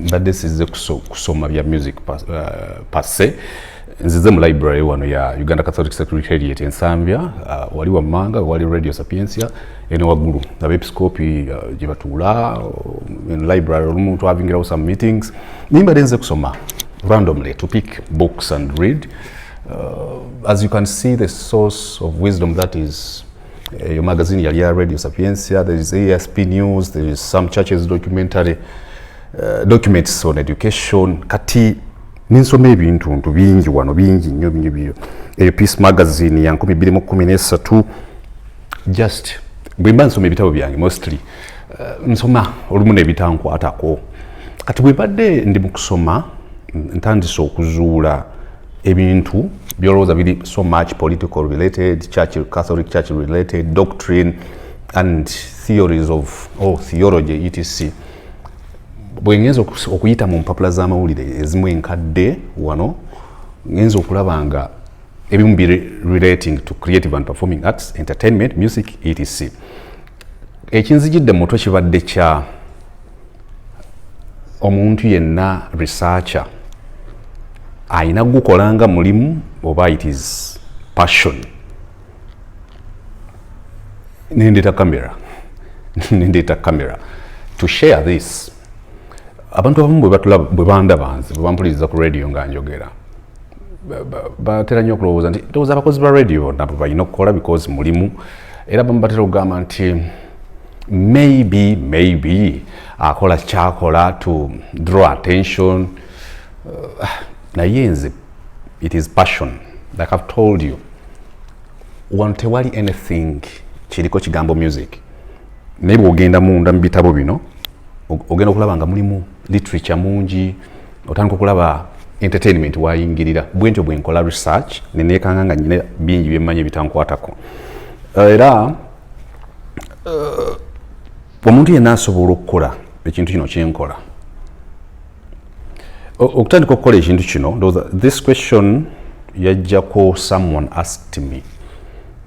mbadde sizze kusoma bya music passe uh, nzize mu library wano ya uganda catholic secretariat ensambya uh, wali wammanga wali radio sapiencia ene waggulu abepiskopi uh, gye batuula in uh, library olumu twavingirawo some meetings naye mbadde nze kusoma randomly to pick books and read uh, as you can see the source of wisdom that is eyo eh, magazine yali ya radio sapiensia there is asp news there is some churches documentary uh, documents on education kati ninsoma ebintu ntu bingi wano bingi nnyo binyo binyo eyo peace magazine ya 213 just bwemba nsoma ebitabo byange mostly uh, nsoma olumu nebitankwatako kati bwebadde ndi mukusoma ntandise okuzuula ebintu byolowooza biri so much political related church catholic church related doctrine and theories of oh, theology etc bwengenza okuyita mu mpapula z'amawulire ezimu enkadde wano ngenza okulaba nga ebimu bi relating to creative and performing arts entertainment music etc ekinzijidde mu mutwe kibadde kya omuntu yenna researcher alina kugukola nga mulimu oba it is passion nendeeta camera nendeeta camera to share this abantu abamu bwe bandaba nze bwe bampuliriza ku radio nga njogera batera nnyo okulowooza nti ndowooza abakozi ba radio bonna balina okukola because mulimu era bamu batera okugamba nti maybe maybe akola kyakola to draw attention uh, naye nze it is passion like i've told you wano tewali anything kiriko kigambo music naye bwogenda munda mu bitabo bino ogenda okulaba nga mulimu literature mungi otandika okulaba entertainment wayingirira bwentyo bwenkola research nenekanga nga nyina bingi byemmanyi ebitankwatako eh, era uh, omuntu yenna asobola okukola ekintu kino kyenkola okutandika okukola ekintu kino this question yajjako someone asked me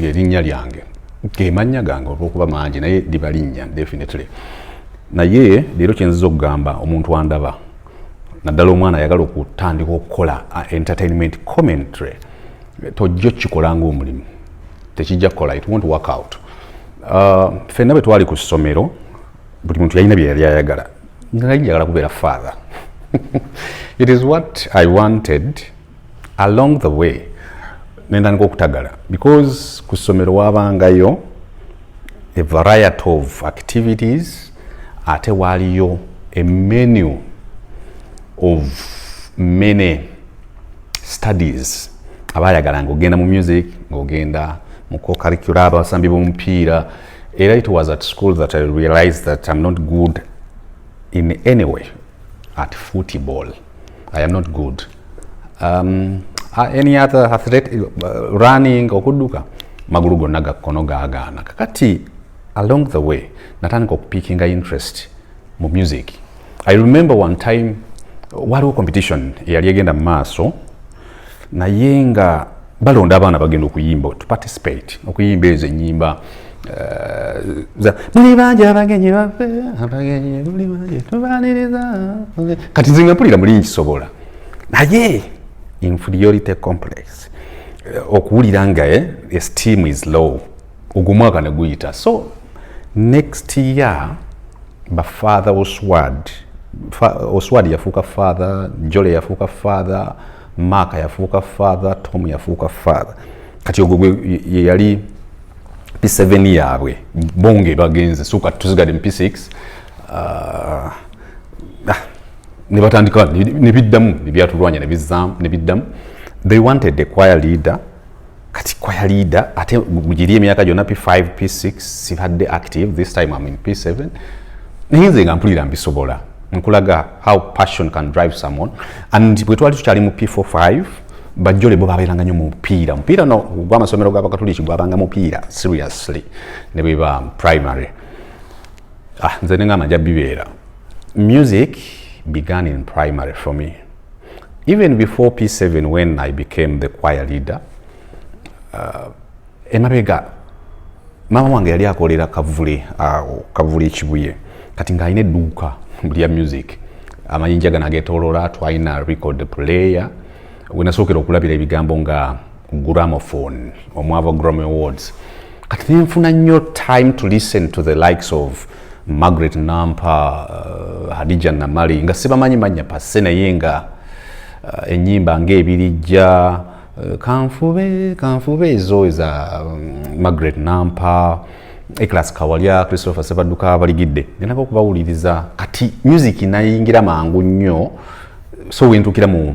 lyerinnya lyange gemannya gange olwokuba mangi naye liba linnya definitely naye leero kyenziza okugamba omuntu andaba naddala omwana ayagala okutandika okukola uh, entertainment commentary tojja okikola ngaomulimu tekijja kukola it wont work out uh, fenna bwe twali ku ssomero buli muntu yalina byeyali ayagala nali njagala kubeera father it is what i wanted along the way nendandika okutagala because ku ssomero wabangayo a variety of activities ate waaliyo a menu of many studies abayagala ngaogenda mu music ngaogenda mu cocurricula abasambi bomupiira era it was at school that i realized that im not good in any way at football I am not good. Um, uh, any other athlete uh, running okuduka magulu gonna gakkono gagaana kakati along the way natandika okupikinga interest mu music i remember one time waliwo competition eyali egenda mu maaso naye nga balonda abaana bagenda okuyimba to participate okuyimba ezo enyimba eh, muli bangi abagenyi bafe abagenyi muli bangi tubaniriza kati nze ngampulira muli nkisobola naye inferiority complex eh, okuwulira nga eh, esteem is low ogwo mwaka ne guyita so next year bafather oswad oswad yafuuka father jole yafuuka father maaka yafuuka father tom yafuuka father kati ogwo gwe yeyali p7 yaabwe bonge bagenze so kati tusigade mu p6 uh, ah, ah, ne batandika ne biddamu ne byatulwanya ne bizaamu ne biddamu they wanted a choir leader kati kwaya leader ate mugiri emyaka gyona p5 p6 sibadde active this time am in p7 naye nze nga mpulira mbisobola nkulaga how passion can drive someone and bwe twali tukyali mu p4 5 bajjole bo babeeranga nyo mupiira mupiira no gwamasomero gabakatuliki gwabanga mupiira seriously ne bweba primary ah nze nengamba nja bibeera music began in primary for me even before p7 when i became the choir leader uh, emabega maama wange yali akolera kavule uh, kavule ekibuye kati ng'alina edduuka lya music amayinja gano agetolola twalina record player wenasookera okulabira ebigambo nga gramophone omwava grammy awards kati nenfuna nnyo time to listen to the likes of margaret nampa uh, hadija namali nga sibamanyi manya passe naye nga uh, enyimba ngaebirijja uh, kanfube kanfube ezo eza um, margaret nampa eclas kawalya christopher sebaduka baligidde ngenako okubawuliriza kati music nayingira mangu nnyo so wentukira mu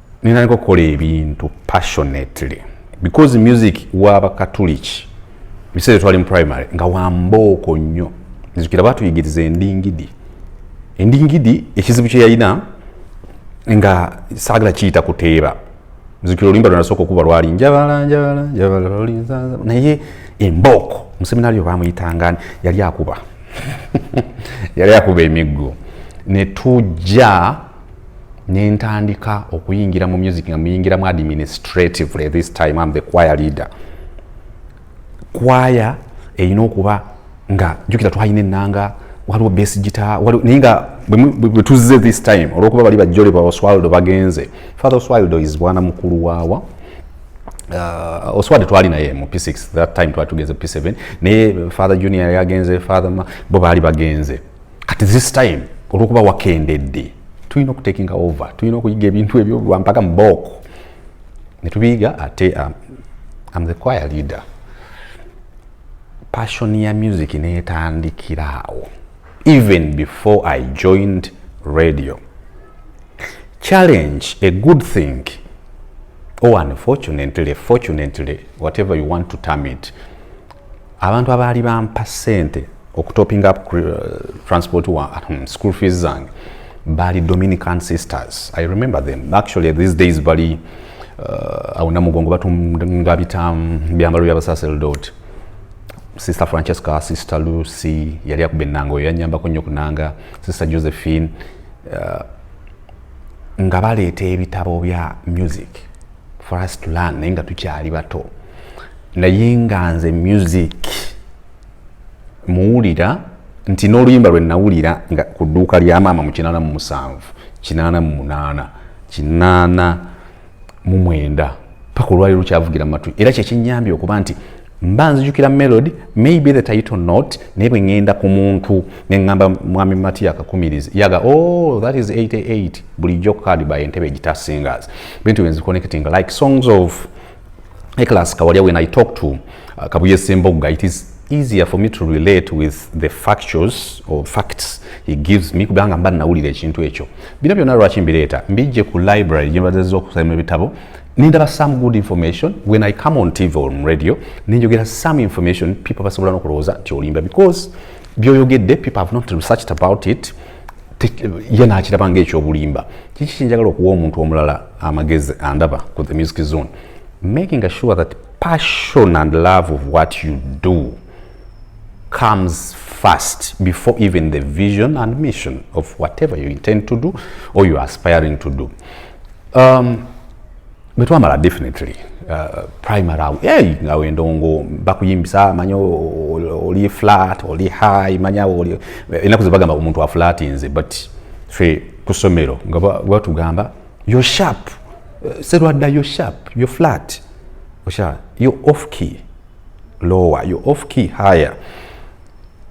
ninaniko okukola ebintu passionately because music waba katuliki biseera twali mu primary nga wambooko nnyo nzukira batuyigiriza endingidi endingidi ekizibu kyeyalina nga saagala kiyita kuteeba nzukira oluyimba lwenasooka okuba lwali njabala njabala njabala naye embooko museminario bamuyitangani yali akuba yali akuba emiggo netujja nentandika okuyingira mu music nga muyingiramu administratively this time am the choir leader kwaya erina okuba nga jukira twalina enanga waliwo base gita naye nga bwetuzze this time olwokuba bali bajole ba oswaldo bagenze father oswaldo is bwana mukulu waawa uh, oswaldo twali naye mu p6 that time twali tugenze p7 naye father junior yagenze father bo baali bagenze kati this time olwokuba wakendedde tulina okutekinga over tulina okuyiga ebintu ebyo lwampaka mubooko netubiyiga ate um, am the choir leader passion ya music netandikiraawo even before i joined radio challenge a good thing or unfortunately fortunately whatever you want to term it abantu abaali bampa sente okutoping up uh, transport wa um, school fees zange bali dominican sisters i remember them actually these days bali uh, awo namugongo batunga bitamu byambalo byabasaseldot sister francesca sister lucy yali akuba enanga oyo yanyambako nnyo kunanga sister josephine uh, nga baleeta ebitabo bya music for us to learn naye nga tukyali bato naye nga nze music muwulira nti n'oluyimba lwe nawulira nga ku dduuka lya maama mu kinaana mu musanvu kinaana mu munaana kinaana mu mwenda paka olwali lukyavugira mu matu era kyekyenyambye okuba nti mba nzijukira melody maybe the title not naye bwe ŋŋenda ku muntu ne ŋŋamba mwami mati yakakumiriza yaga o oh, that is 88 bulijjo kukadiba entebe egitasingas bintu byenzi connecting like songs of eclas kawalya when i talk to uh, kabuye sembogga it is easier for me to relate with the factuals or facts he gives me kubanga mba nawulira ekintu ekyo bino byonna lwaki mbireeta mbijje ku library gyembazezza okusoma ebitabo nindaba some good information when i come on tv or radio ninjogera some information people basobola nokulowooza nti olimba because byoyogedde people have not researched about it ye nakiraba nga ekyobulimba kiki kyenjagala okuwa omuntu omulala amagezi andaba ku the music zone making assure that passion and love of what you do comes first before even the vision and mission of whatever you intend to do or you aspiring to do um, bwetwamala definitely uh, primary awo hey, nga wendongo bakuyimbisa manya oli flat oli high manya oli enaku zebagamba omuntu aflatinze but fe kusomero nga batugamba yo sharp uh, serwadda yo sharp yo flat osha yo off key lower yo off key higher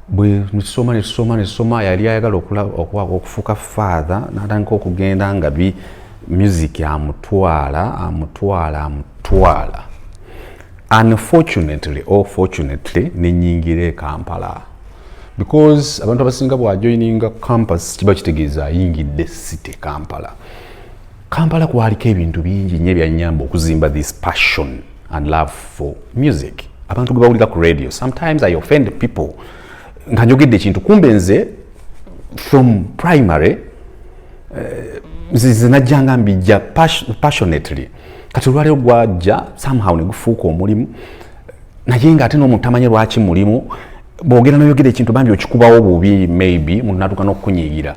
bwetusoma netusoma netusoma yali ayagala okufuuka faatha natandika okugenda nga bi music amutwala amutwala amutwala unfortunately or fortunately nenyingira ekampala because abantu abasinga bwajoininga campus kiba kitegeeza ayingidde city kampala kampala kwaliko ebintu bingi nyo ebyanyamba okuzimba this passion and love for music abantu gwe bawulira ku radio sometimes i offend people nga njogedde ekintu kumbe nze from primary eh, nzize najjanga mbijja passionately kati olwaliro gwajja somehow negufuuka omulimu naye nga ate n'omuntu tamanyi lwaki mulimu bwogera noyogera ekintu bambi okikubawo bubi maybe munatuka nokukunyigira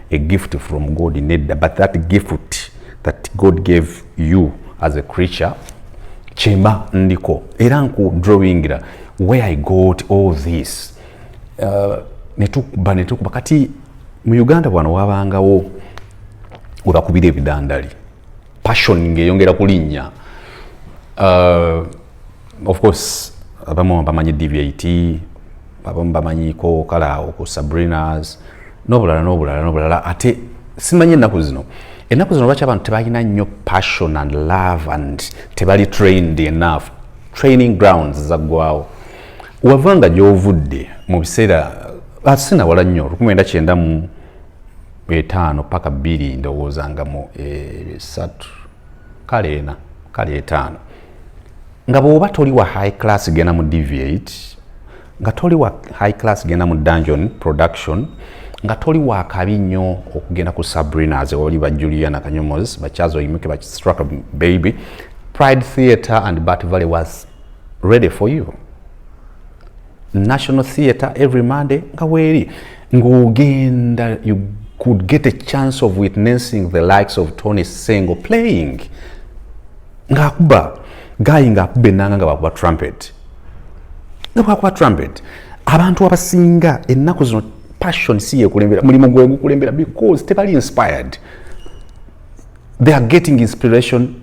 a gift from god nedda but that gift that god gave you as a creature kyemba ndiko era nku drawingira where i got all this uh, netukuba netukuba kati mu uganda bwano wabangawo webakubira ebidandali passion ngeyongera kulinnya uh, of course abamu bamanyi dvit abamu bamanyiko kale awo ku sabrinas n'obulala n'obulala n'obulala ate simanyi ennaku zino ennaku zino lwaki abantu tebalina nnyo passion and love and tebali trained enough training grounds zaggwawo wavanga gy'ovudde mu biseera asinawala ah, nnyo lukumi enda kyenda mu etaano paka bbiri ndowooza nga mu esatu eh, kale ena kale etaano nga bwoba toli wa high class genda mu deviate nga toli wa high class genda mu dungeon production nga toli wa kabi nnyo okugenda ku sabrinas oli ba juliana kanyomos bakyaza oyimuke bakistraka baby pride theatre and bat valley was ready for you national theatre every monday nga weeri ng'ogenda you could get a chance of witnessing the likes of tony sengo playing ng'akuba gaayi ng'akuba ennanga nga bakuba trumpet nga bwakuba trumpet abantu abasinga ennaku zino passion si yekulembera mulimu gwe gukulembera because tebali inspired they are getting inspiration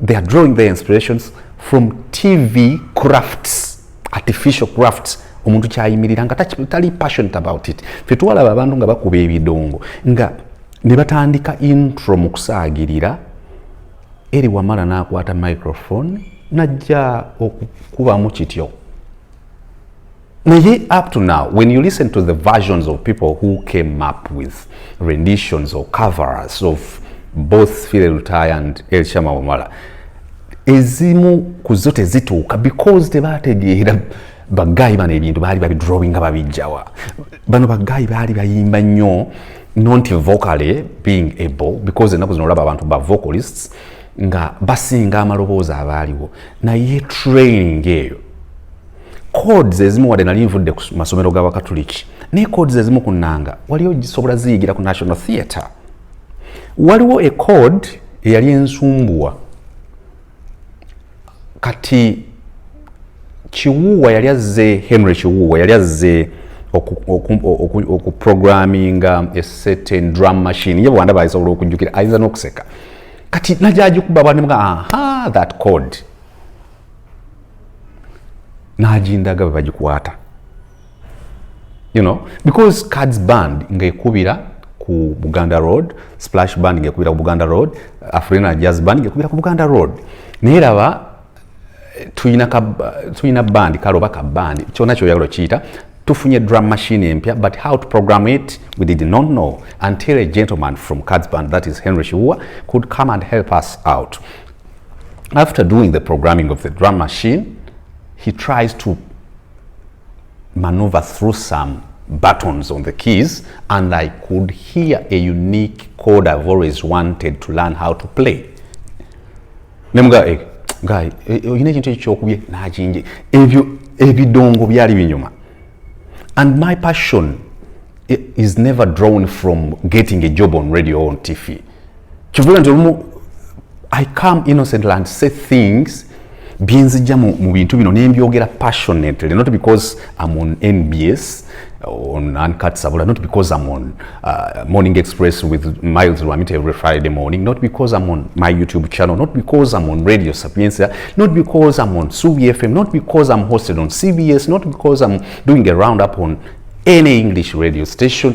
they are drawing their inspirations from tv crafts artificial crafts omuntu kyayimirira nga tali passionate about it fe twalaba abantu nga bakuba ebidongo nga ne batandika intro mu kusaagirira eri wamala n'akwata microphone najja okukubamu kityo naye up to now when you listen to the versions of people who came up with renditions or covers of both file lutaya and elshama wamala ezimu ku zo tezituuka because tebategeera bagaayi bano ebintu baali babidrowinga babijjawa bano bagaayi baali bayimba nnyo not vocally being able because enaku zino olaba abantu ba vocalists nga basinga amaloboozi abaaliwo naye training eyo codes ezimu wadde nali nvudde ku masomero g'abakatuliki naye codes ezimu ku nnanga waliyo gisobola ziyigira ku national theatre waliwo ecode eyali ensumbuwa kati kiwuuwa yali azze henry kiwuuwa yali azze okuprograminga ecertain drum machine ye bwanda baayisobola okujjukira ayinza n'okuseka kati najagikuba banimga aha that code nagindaga bwe bagikwata you know because cards band ngekubira ku buganda road splash band ngekubira ku buganda road afrina jazz band ngekubira ku buganda road naye laba tulina tulina band kale oba ka band kyona kyoyagala okiyita tufunye drum machine empya but how to program it we did not know until a gentleman from cards band that is henry shiua could come and help us out after doing the programming of the drum machine he tries to maneuver through some buttons on the keys and I could hear a unique chord I've always wanted to learn how to play. Nemuga eh, guy, eh, eh, oyina ekintu ekyokubye n'akinje ebyo ebidongo byali binyuma and my passion is never drawn from getting a job on radio or on TV. kivula nti olumu i come innocently and say things byenzijja mu, mu bintu bino nembyogera passionately not because am on nbs on uncut sabula not because i'm on uh, morning express with miles rwamit every friday morning not because i'm on my youtube channel not because i'm on radio sapiensia not because i'm on subi fm not because i'm hosted on cbs not because i'm doing a round up on any english radio station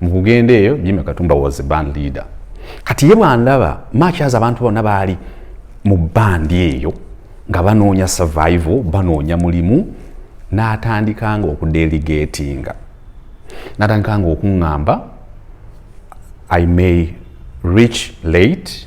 mu kugenda eyo jimmy katumba was a band leader kati ye bwandaba makyaza abantu bonna baali mu bandi eyo nga banoonya survival banoonya mulimu n'atandikanga okudeligatinga natandikanga okuŋŋamba i may reach late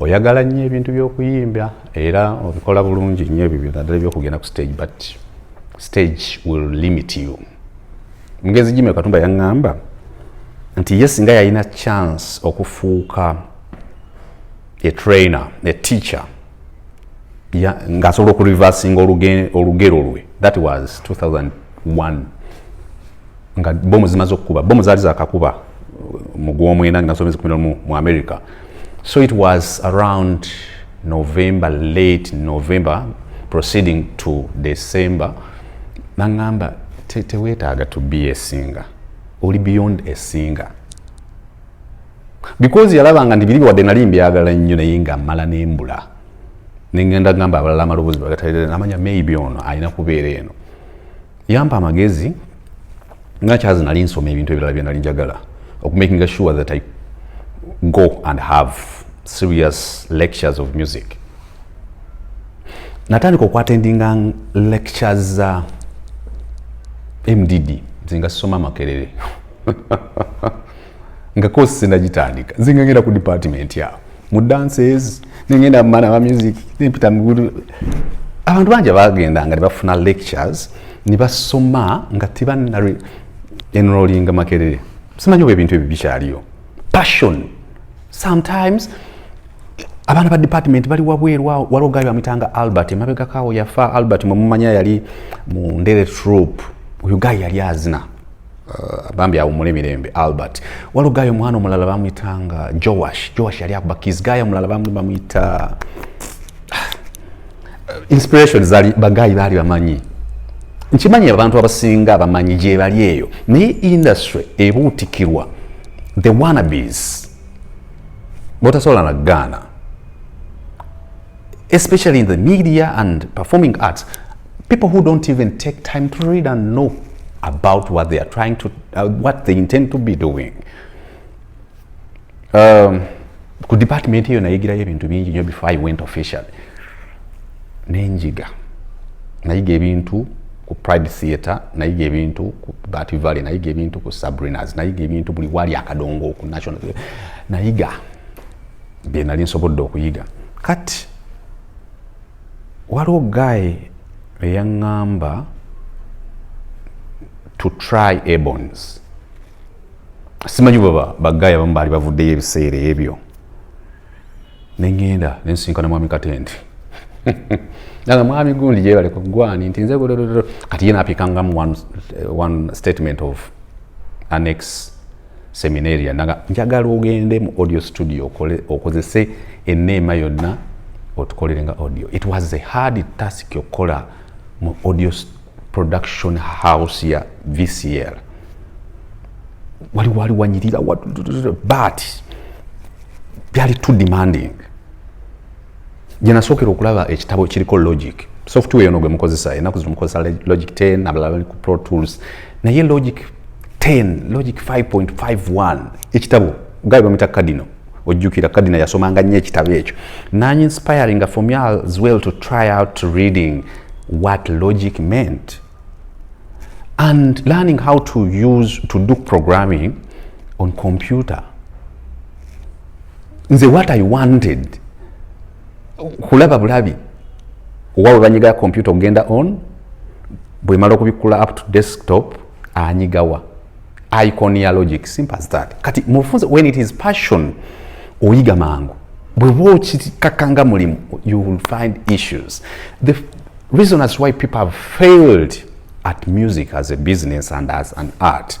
oyagala nnyo ebintu by'okuyimba era obikola bulungi nnyo ebyo byonadala ebyokugenda ku stage but stage will limit you mugenzi jime katumba yaŋŋamba nti ye singa yalina chance okufuuka etrainer eteacher ng'asobola okureversinga olugero lwe that was 2001 nga bomu zimaze okukuba bomu zaali zakakuba mu gwomwenda nga nsomezi kumi nomu mu america so it was around november late november proceeding to december nangamba tewetaaga te to be esinga oli beyond esinga because yalabanga nti biri wadde nali mbyagala nnyo naye nga mala nembula nengenda gamba abalala amaloboozi bagatalire namanya maybe ono alina kubeera eno yampa amagezi nga kyazi nali nsoma ebintu ebirala byenali njagala okumakinga sure that i go and have serious lectures of music natandika okwatendinga lectures za mdd nze nga sisoma makerere nga kosi sinagitandika nze nga ngenda ku department awo mu dances nengenda mumana wa music nempita mugulu abantu bangi abagendanga ne bafuna lectures ne basoma nga tebanna enrolinga makerere simanyi oba ebintu ebyo bikyaliyo passion sometimes abaana ba department bali wabweru awo waliwo gaali bamuyitanga albert emabegakaawo yafa albert mwemumanya yali mu ndere troop oyo gayi yali azina Uh, bambi awumule mirembe albert waliwo gaayo omwana omulala bamuyitanga joash joash yali akuba kis gaayo omulala bamuyita uh, inspiration zali bagaayi baali bamanyi nkimanyi abantu abasinga abamanyi gyebali eyo naye industry ebuutikirwa the wanabes botasobola na gaana especially in the media and performing arts people who don't even take time to read and know about what they are trying to uh, what they intend to be doing um, ku department eyo nayigirayo ebintu bingi nyo before i went official nenjiga nayiga ebintu ku pride theatre nayiga ebintu ku bat valley nayiga ebintu ku sabrinas nayiga ebintu buli wali akadongo ku national nayiga bye nali nsobodde okuyiga kati waliwo guy eyaŋŋamba to try abons simanyi baba bagayi abamu baali bavuddeyo ebiseera ebyo nengenda nensinkana mwami katende nanga mwami gundi gyebale ku gwani nti nze kati ye napikangamu one, one statement of annex seminaria naga njagala ogende mu audio studio okole okozese eneema yonna otukolere nga audio it was a hard task okukola mu audio production house ya vcl wali wali wanyirira but byali too demanding gye nasookera okulaba ekitabo kiriko logic software yono gwe mukozesa enaku zino mukozesa logic 10 abalala bali ku pro tools naye logic 10 logic 5.51 ekitabo gaye bamita kadino ojjukira kadina yasomanga nnyo ekitabo ekyo nanyi inspiring for me as well to try out reading what logic meant and learning how to use to do programming on computer nze what i wanted kulaba bulabi owawe banyiga kompyuta okugenda on bwemala okubikkula up to desktop anyigawa icon ya logic simple as that kati mufunze when it is passion oyiga mangu bweba okikakanga mulimu you will find issues the reason as why people have failed at music as a business and as an art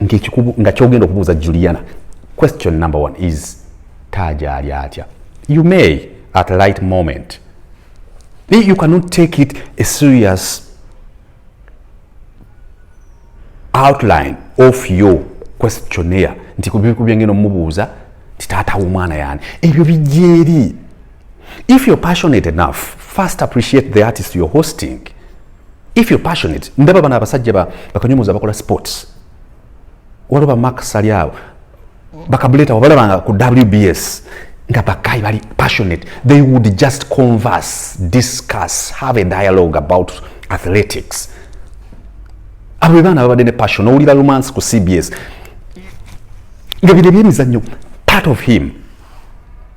nti ekikubu nga kyogenda okubuuza juliana question number one is taaja ali atya you may at a light moment you cannot take it a serious outline of your questionnaire nti kubyengeno mubuuza nti taata womwana yani ebyo bijeri If you're passionate enough, first appreciate the artist you're hosting. If you're passionate, ndaba bana abasajja ba bakanyomoza bakola sports. Walo ba Mark Saliao bakabuleta wabalabanga ku WBS nga bakai bali passionate. They would just converse, discuss, have a dialogue about athletics. Abo be baana babadde ne passion. Owulira romance ku CBS. Nga bino ebyemizannyo part of him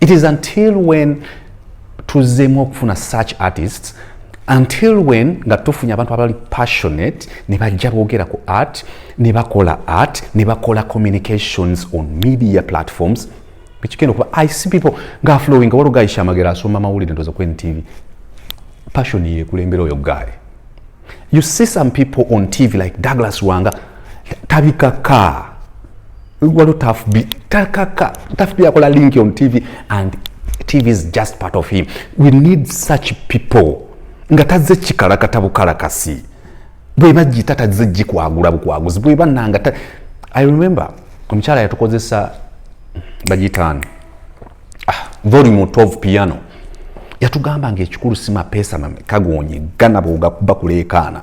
it is until when tuzzeemu okufuna such artists until when nga tufunye abantu abali passionate ne bajja boogera ku art ne bakola art ne bakola communications on media platforms ekigenda okuba i see people nga flowing waliwo gayi shamagera asoma mawulire ndoza ku ntv passion yekulembera oyo gayi you see some people on tv like douglas wanga tabika kaa waliwo tafbi takaka tafbi akola link on tv and tv is just part of him we need such people nga tazze kikalakata bukalakasi bweba jita tazze jikwagula bukwaguzi bweba nanga i remember omukyala yatukozesa bajitaani ah, volume 12 piano yatugamba nga ekikulu si mapeesa kagonye gana bwogakuba kuleekaana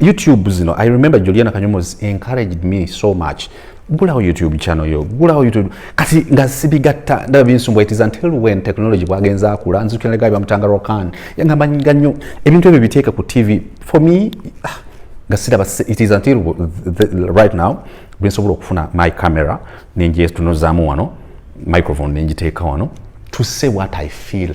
youtube zino i remember juliana kanyomos encouraged me so much gulawo youtube channel yo gulawo youtube kati nga sibigatta ndaba binsumbu it is until when technology bwagenza akula nzukiranaga bamutanga rokan yangamba nga nnyo ebintu ebyo biteeka ku tv for me ah, nga siraba it is until the, the, right now bwensobola okufuna my camera nenjetunozaamu wano microphone nenjiteeka wano to say what i feel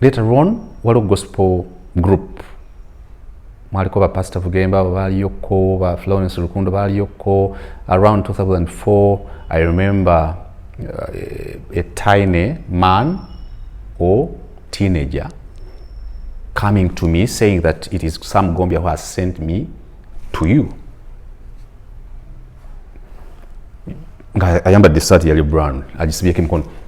later on waliwo gospel group mwaliko ba pastor vugemba abo baaliyokko ba florence lukundo baaliyokko around 2004 i remember uh, a tiny man or teenager coming to me saying that it is some gombia who has sent me to you nga ayambadde esaati yali brown agisibyeko emikono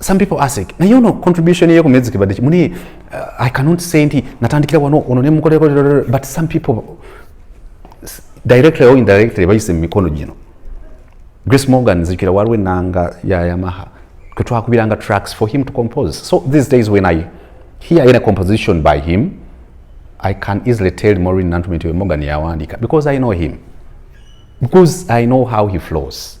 some people ask naye ono contribution ye ku music bade muni uh, i cannot say nti natandikira wano ono ne mukoleko but some people directly or indirectly bayise mu mikono gino grace morgan nzijukira waliwo enanga ya yamaha kwe twakubiranga tracks for him to compose so these days when i hear any composition by him i can easily tell morin nantume nti morgan yawandika because i know him because i know how he flows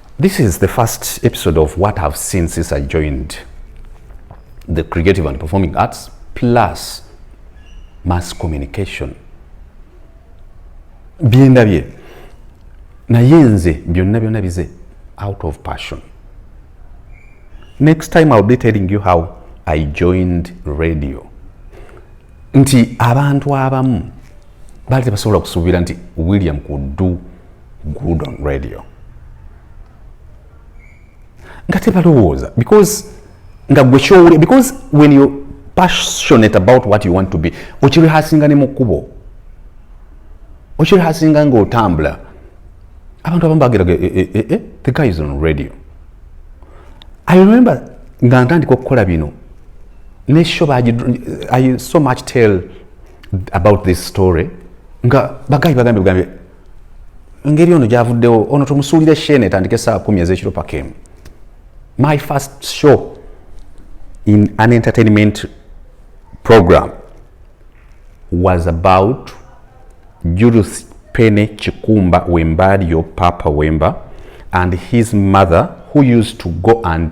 This is the first episode of what I've seen since I joined the creative and performing arts plus mass communication byendabye naye nze byonna byonna bize out of passion next time ill be telling you how i joined radio nti abantu abamu baali tebasobola kusuubira nti william kudu good on radio nga tebalowooza because nga gwe kyowulira because when you passionate about what you want to be okirehasinga ne mu kkubo okirehasinga ngaotambula abantu abamu bagera eh, eh, eh, eh, the guy is on radio i remember nga ntandika okukola bino nesho i so much tell about this story nga bagayi bagambye bugambye engeri ono gyavuddewo ono tumusuulira eshene etandike saa kumi ezekiro pakemu my first show in an entertainment program was about judith pene kikumba wembalio papa wemba and his mother who used to go and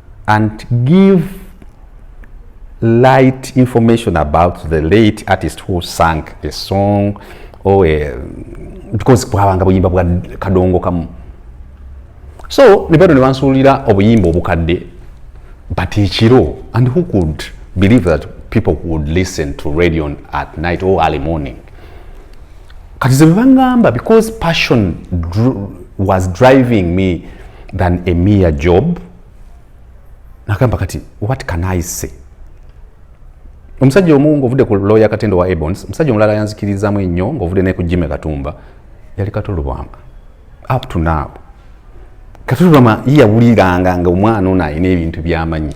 and give light information about the late artist who sang a song or a, because bwabanga buyimba bwa kadongo kamu so nebano nebansuulira obuyimba obukadde but ekiro and who could believe that people would listen to radio at night or early morning kati ze bebangamba because passion dr was driving me than a mere job nagamba kati what can i say omusajja omu ngaovudde ku lawyer katendo wa ebons omusajja omulala yanzikirizamu ennyo ngaovudde naye ku jime katumba yali katolubwama up to now katolubwama yeyawuliranga nga omwana ono alina ebintu byamanyi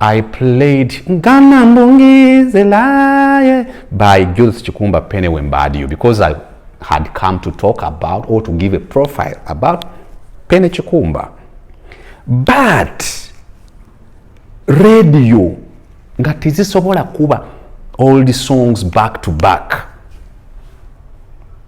I played Ngana Mbungizelaye by Judith Chikumba Pene Wembadio because I had come to talk about or to give a profile about Pene Chikumba. But radio nga tezisobola kuba all the songs back to back.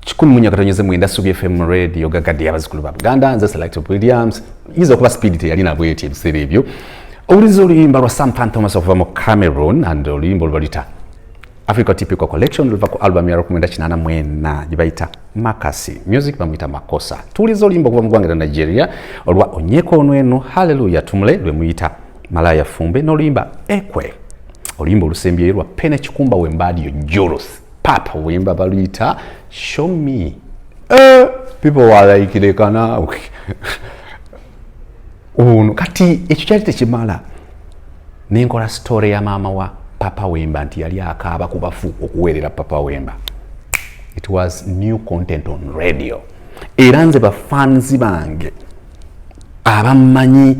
kikumi munya katonyeze mwenda subi fm radio gagadi abazikulu ba buganda nze select williams yiza okuba speed teyali nabweti ebiseera ebyo owuliza oluyimba lwa sam pan thomas okuva mu cameroon and oluyimba olubalita africa typical collection luva ku album ya rokumwenda kinana mwena gyebayita makasi music bamuyita makosa tuwuliza oluyimba okuva mu ggwanga lya nigeria olwa onyeko onweno halleluya tumule lwemuyita malaya fumbe n'oluyimba ekwe oluyimba olusembyeyo lwa pene kikumba wembaadiyo jolosi papa wemba baluyita show me uh, people were like lekana ono kati ekyo kyali tekimala nenkola story ya maama wa papa wemba nti yali akaaba ku bafu okuweerera papa wemba it was new content on radio era nze bafanzi bange abammanyi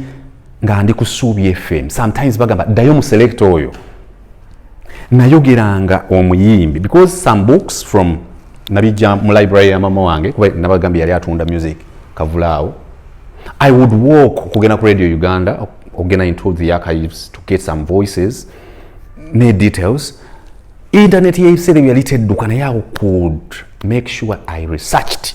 nga ndi ku suubi fm sometimes bagamba ddayo mu selekta oyo nayogeranga omuyimbi because some books from nabijja mu library ya mama wange kuba nabagambye yali atunda music kavulaawo i would walk okugenda ku radio uganda okugenda into the archives to get some voices ne details internet yebiseera ebyo yali tedduka naye i could make sure i researched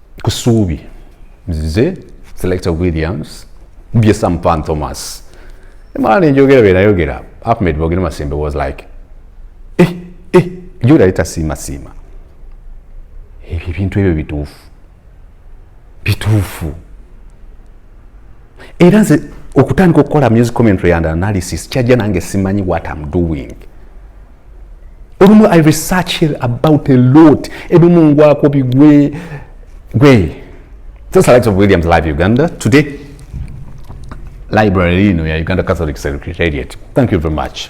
ku ssuubi nzize selector williams bye sam pan thomas emala nenjogera byenayogera ahmed bogere masembe was like eh, eh, jogera litasiimasiima ebyo ebintu ebyo bituufu bituufu era nze okutandika okukola music commentary and analysis kyajja nange simanyi what am doing olumu i research about a lot ebimu ngwako bigwe gwe just likes of williams live uganda today library lino ya uganda catholic secretariat thank you very much